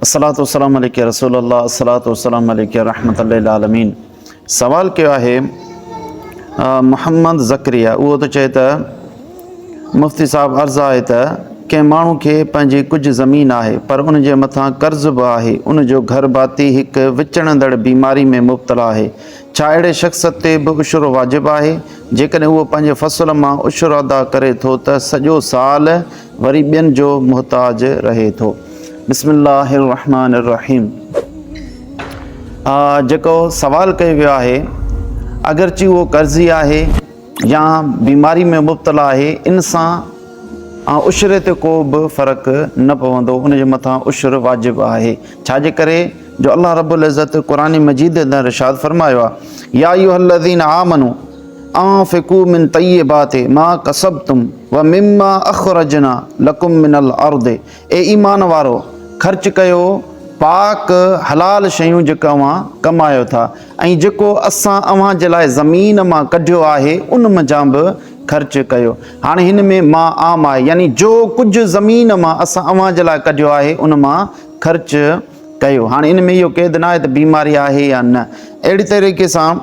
الصلوة والسلام عليك يا رسول الله الصلوة والسلام عليك يا رحمة للعالمين سوال ڪيو آهي محمد ذڪريا اهو ٿو چئي ته مفتي صاحب عرض آهي ته ڪنهن ماڻهو کي پنهنجي ڪجهه زمين آهي پر ان جي مٿان قرض به آهي ان جو گهر ڀاتي هڪ وچڙندڙ بيماري ۾ مبتلا آهي ڇا اهڙي شخص تي به عشرو واجب آهي جيڪڏهن اهو پنهنجي فصل مان عشر ادا ڪري ٿو ته سڄو سال وري ٻين جو محتاج رهي ٿو. بسم الله الرحمٰن الرحيم آء جيڪو سوال ڪيو ويو آهي اگرچه اهو قرضي آهي يا بيماري ۾ مبتلا آهي ان سان آء عشري تي ڪو به فرق نه پوندو ان جي مٿان عشر واجب آهي ڇا جي ڪري جو الله رب العزت قرآن مجيد اندر ارشاد فرمايو آهي يا ايها الذين آمنو انفقوا من طيبات ما کسبتم ومما اخرجنا لکم من الارض اي ايمان وارؤ! خرچ ڪيو پاڪ حلال شيون جيڪي اوهان ڪمايو ٿا ۽ جيڪو اسان اوهان جي لاء زمين مان ڪڍيو آهي ان منجهان به خرچ ڪيو. هاڻي هن ۾ ما عام آهي يعني جو ڪجهه زمين مان اسان اوهان جي لاء ڪڍيو آهي ان مان خرچ ڪيو. هاڻي ان ۾ اهو قيد ناهي ته بيماري آهي يا نه. اهڙي طريقي سان.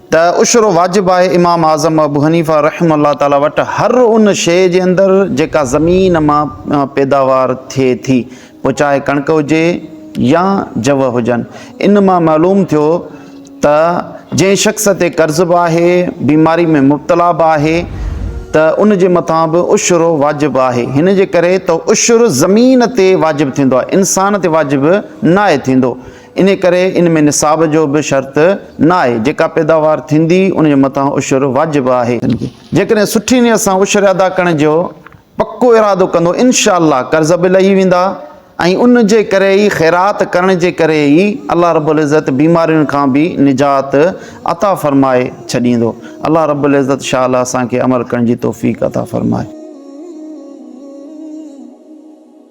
ته عشر واجب آهي امام اعظم ابو حنيفه رحمه الله تعالٰي وٽ هر ان شيء جي اندر جيڪا زمين مان پيداوار ٿئي ٿي پوء چاهي ڪڻڪ هجي يا جوء هجن ان مان معلوم ٿيو ته جنهن شخص تي قرض به آهي بيماري ۾ مبتلا به آهي ته ان جي مٿان به عشر واجب آهي هن جي ڪري ته عشر زمين تي واجب ٿيندو آهي انسان تي واجب ناهي ٿيندو انهيء ڪري ان ۾ نصاب جو به شرط نه آهي، جيڪا پيداوار ٿيندي ان جي مٿان عشر واجب آهي. جيڪڏهن سٺي نيت سان عشر ادا ڪرڻ جو پڪو ارادو ڪندو ان شاء الله قرض به لهي ويندا ۽ ان جي ڪري ئي خيرات ڪرڻ جي ڪري ئي الله رب العزت بيمارين کان به نجات عطا فرمائي ڇڏيندو. الله رب العزت شاءالله اسان کي عمل ڪرڻ جي توفيق عطا فرمائي.